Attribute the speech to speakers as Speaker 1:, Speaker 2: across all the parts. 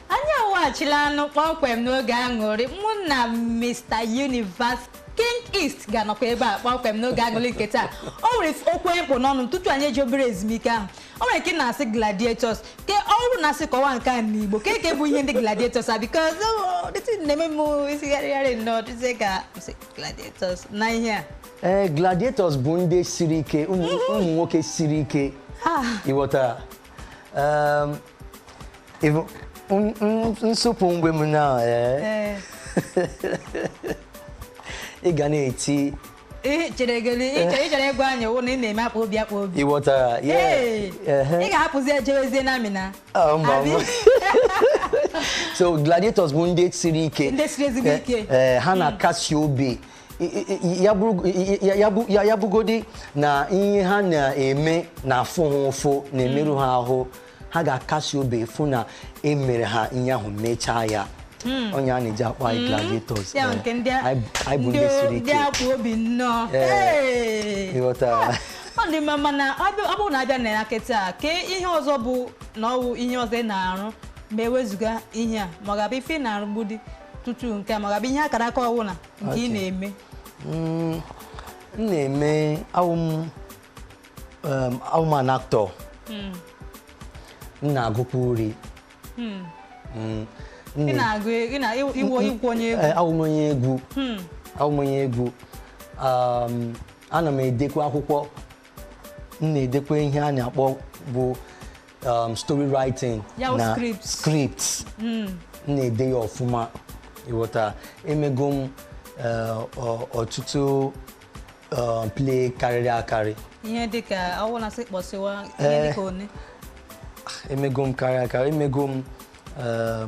Speaker 1: anyị abịaghachila nụ kpọmkwem n'oge aṅụrị mụ na Mr Universe King East ga-anọkwa ebe a kpọmkwem n'oge aṅụrị nke taa o nwere okwu m kpụ n'ọnụ tutu anyị ejee obere ezumike ahụ o nwere nke na-asị gladiators ke ọrụ na-asị kọwa nke a n'Igbo ke ke bụ ihe ndị gladiators a because oh, the thing na-eme m isi gharịgharị nnọọ dịzie ka m sị, gladiators na ihe a ee gladiators bụ ndị
Speaker 2: siri ike ụmụ ụmụ nwoke siri ike Ah. ịghọta Um, ịbụ n- n- nsụpụ mgbe m na eh, Ee. ị ga na-eti Ị chere
Speaker 1: gị ị chere- ị chọrọ ịgwa anyị wụ na ị na-eme akpụ obi akpụ obi. ịghọtara ya
Speaker 2: Ee. Ehe.
Speaker 1: Ị ga-ahapụzi ejewezie na amịna. Ah, mba, Abi?
Speaker 2: mba. so gladiators bụ ndị siri ike Ndị siri ezigbo ike.
Speaker 1: Eh, eh, ha na-akasi
Speaker 2: obi ya bụgodi na ihe ha na-eme na-afụ ha ụfụ na-emerụ ha ahụ ha ga-akasi obi fụ na emere ha ihe ahụ mechaa ya hmm. ọ ya a na-eji akpọ anyị hmm. gladiators eh, anyị bụ ndị siri ike ndị akpụ obi
Speaker 1: nnọọ eh,
Speaker 2: ịghọtara ọ
Speaker 1: dị mma mana ọ bụrụ na abịa na ya kịta ke ihe ọzọ bụ na ọwụ ihe ọzọ ị na-arụ ma ewezụga ihe a ma ọ ga-abụ ife ị na-arụ gbudi tutu nke a ma ọ ga-abụ ihe akara aka ọwụla nke ị na-eme
Speaker 2: mm, m na-eme awụ m an actor hmm. m na-agụkwa uri
Speaker 1: hmm. mm, ị na-agụ ị wụkwu onye egwu eh, awụ m onye egwu
Speaker 2: hmm. awụ m onye egwu um, ana m edekwa akwụkwọ m na-edekwa ihe a na-akpọ bụ um, story writing Ya bụ na script. script m na-ede ya ọfụma ịghọta emego m eh, ọ- ọtụtụ um, play karịrị akarị ihe
Speaker 1: dịka ọwụ na asị kpọsịwa ihe Eh. dịka one
Speaker 2: emego m karịrị akarị emego m eh,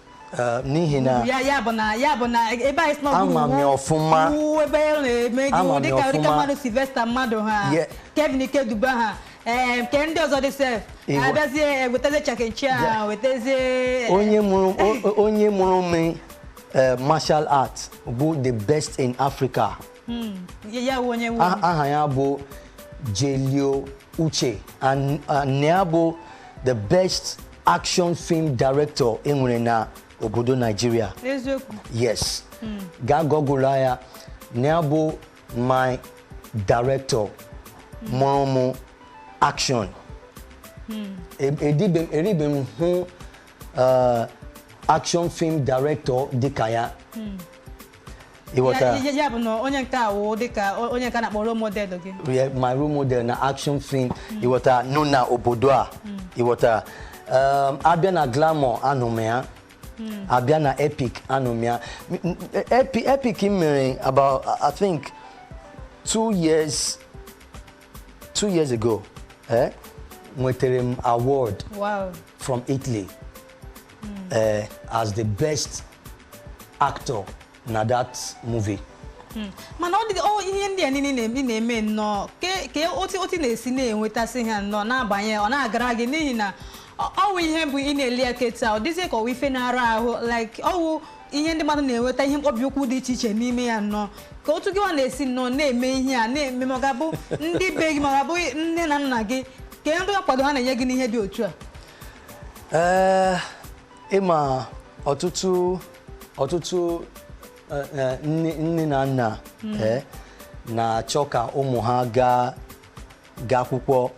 Speaker 2: Eh, n'ihi na ya ya bụ na ya
Speaker 1: bụ na ebe anyị sị na ọ bụ Ama m ya
Speaker 2: ọfụma. iwu ebe ọ na-eme
Speaker 1: gị Ama iwu m ya dịka dịka ọfụma. mmadụ Sylvester Madu ha Ye- Kevin Ikeduba ha ee nke ndị ọzọ dị sef Igwe. abịazie ewetazie Jackie Chan wetazie onye mụrụ
Speaker 2: o- o- onye mụrụ m eh, martial art bụ the best in africa hmm. aha ya bụ Jelio Uche and ya bụ the best action film director enwere na obodo Nigeria yes hmm. gaa Google ya na ya bụ my director hmm. mụrụ mụ action eribe m hụ action film director dịka ya ịghọta
Speaker 1: Ya- ya- ya bụ na onye nke a wụ dịka o- onye nke a na-akpọ role model gị Yeah, my role model
Speaker 2: na action film ịghọta nọ na obodo a ịghọta Um, a bịa na glamour anọ m ya a bịa na epic anọ m ya M- m- Epi- epic m mere about i think two years two years ago eh, nwetara m award wow from italy uh, as the best actor na that movie. Hmm.
Speaker 1: mana ọ dị oh, ihe ndị a niile na-eme nnọọ ka otu otu na-esi na-enwetasị ha nnọọ na-abanye ọ na-agara gị n'ihi na ọ wụ ihe bụ ị na-ele ya kịta ọ dịzie ka ọ wụ ife na-ara ahụ like ọ wụ ihe ndị mmadụ na-enweta ihe mkpọbi ụkwụ dị iche iche n'ime ya nnọọ ka otu gị nwa na-esi nnọọ na-eme ihe a na-eme ma ọ ga-abụ ndị be gị ma ọ ga-abụ nne na nna gị kedụ nkwado ha na-enye gị n'ihe dị otu a ee
Speaker 2: ịma ọtụtụ ọtụtụ eh, eh, nne nne na nna eh, na-achọ ka ụmụ ha gaa gaa akwụkwọ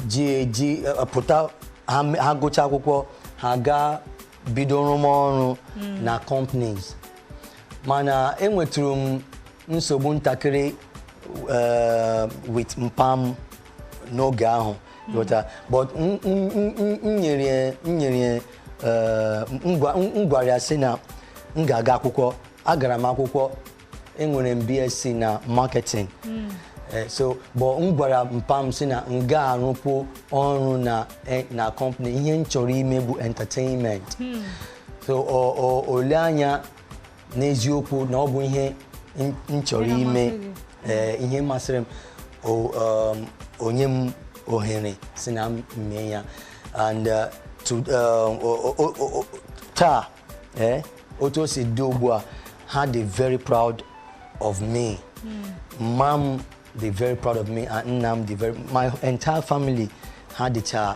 Speaker 2: ji eji eh, pụta ha me- ha gụcha akwụkwọ ha gaa bido rụma ọrụ na companies mana enwetụrụ m nsogbu ntakịrị eh, with mpa m n'oge ahụ ghọta but m- m- m- m- m nyere ya- m nyere ya, eh, m gwa- m- m gwara ya sị na m ga-aga akwụkwọ agara m akwụkwọ enwere m bsc na marketing Eh, so but m gwara mpa m sị na m ga-arụpụ ọrụ na eh, na company ihe m chọrọ ime bụ entertainment so o- o- o lee anya n'eziokwu na ọ bụ ihe m- m chọrọ ime Ihe masịrị gị. ee, ihe masịrị m o- um, o nye m ohere sị na m mee ya and uh, to, um, o- o- o- o- taa ee, otu o si dị ugbu a ha dị very proud of me mma m dị very proud of me and nna m dị very my entire family ha dịcha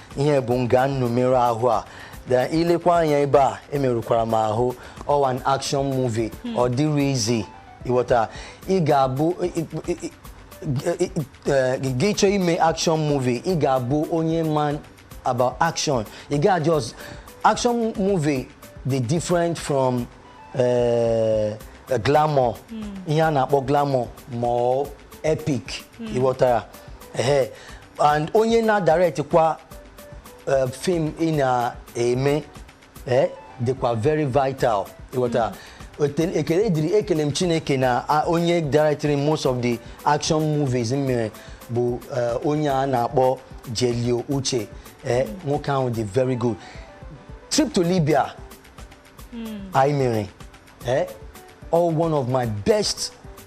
Speaker 2: ihe bụ nga m nọ merụọ ahụ a then i lekwa anya ebe a emerụkwara m ahụ ọ wụ an action movie hmm. ọ dịrọ easy ịghọta ị ga-abụ gị chọọ ime action movie ị ga-abụ onye ma about action ị ga just action movie dị different from uh, glamour hmm. ihe a na-akpọ glamour ma epic hmm. ịghọtara ehe and onye na-direct kwa eh, film ị na-eme eh, dịkwa very vital ịghọta Ote- ekele dịrị ekele m chineke na a- onye directịrị most of the action movies m mere bụ eh, onye a na-akpọ jelio uche eh, nwoke ahụ dị very good trip to libya anyị mere eh, all one of my best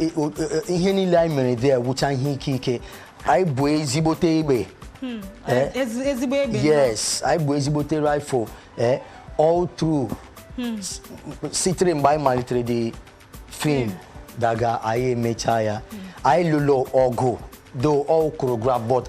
Speaker 2: I- o- e- ihe niile anyị mere there wụcha ihe ike ike anyị bu ezigbote egbe Eh? Ezi-
Speaker 1: ezigbo egbe yes anyị bu
Speaker 2: ezigbote rifle eh, all through S- sitere mgbe anyị malitere the film daga anyị emecha ya anyị lụrụ ọgụ though all choreograph but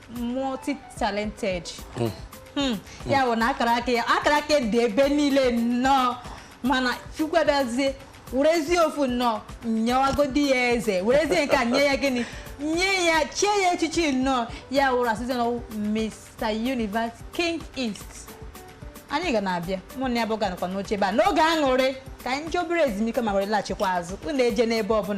Speaker 1: multi talented hmm. Hmm. ya bụ na akara aka ya akara aka dị ebe niile nnọọ mana chukwu abịazie werezie ofu nnọọ nyewagodi ya eze werezie nke a nye ya gịnị nye ya chie ya echichi nnọọ ya wụrụ a sịzi na Mr Universe King East anyị ga na-abịa mụ na ya bụ ga-anọkwa n'oche ebe a n'oge aṅụrị ka anyị jee obere ezumike ma were laghachikwa azụ unu ejena ebe ọbụla